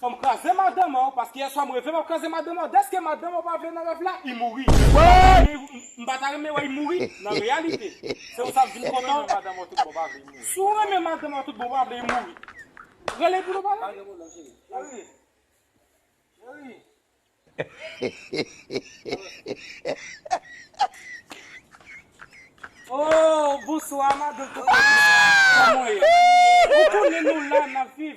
Fòm kraze madanm an paske yèswa m reve map kraze madanm an deske madanm an pa vle nan rèv la i mouri m pa ta renmen wè i mouri nan reyalite se ou sa m vin kontan si ou renmen madanm an tout bon ou pa vle i mouri rele pou nou pale. Ooh bonswa madan kokobe koman ou ye ou konnen nou la nap viv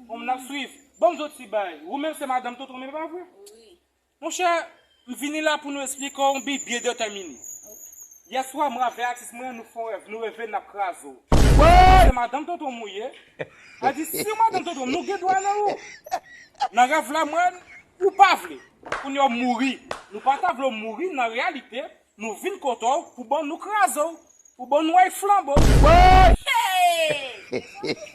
humm nap swiv banm zot ti bay ou menm se madanm tonton mimi pa vre monchè m vini la pou nou esplike w yon bgy byen detèmine yèswa mwen avè atis mwen nou fon rèv nou reve nap kraze w ou menm se madanm tonton m ou ye. Al di siw madanm tontonm nou gen dwa nan ou nan rèv la mwen ou pa vle kounye ou mouri nou pa ta vle w mouri nan reyalite nou vin kote w pou bon nou kraze w pou bon nou ay flanbo w Hey!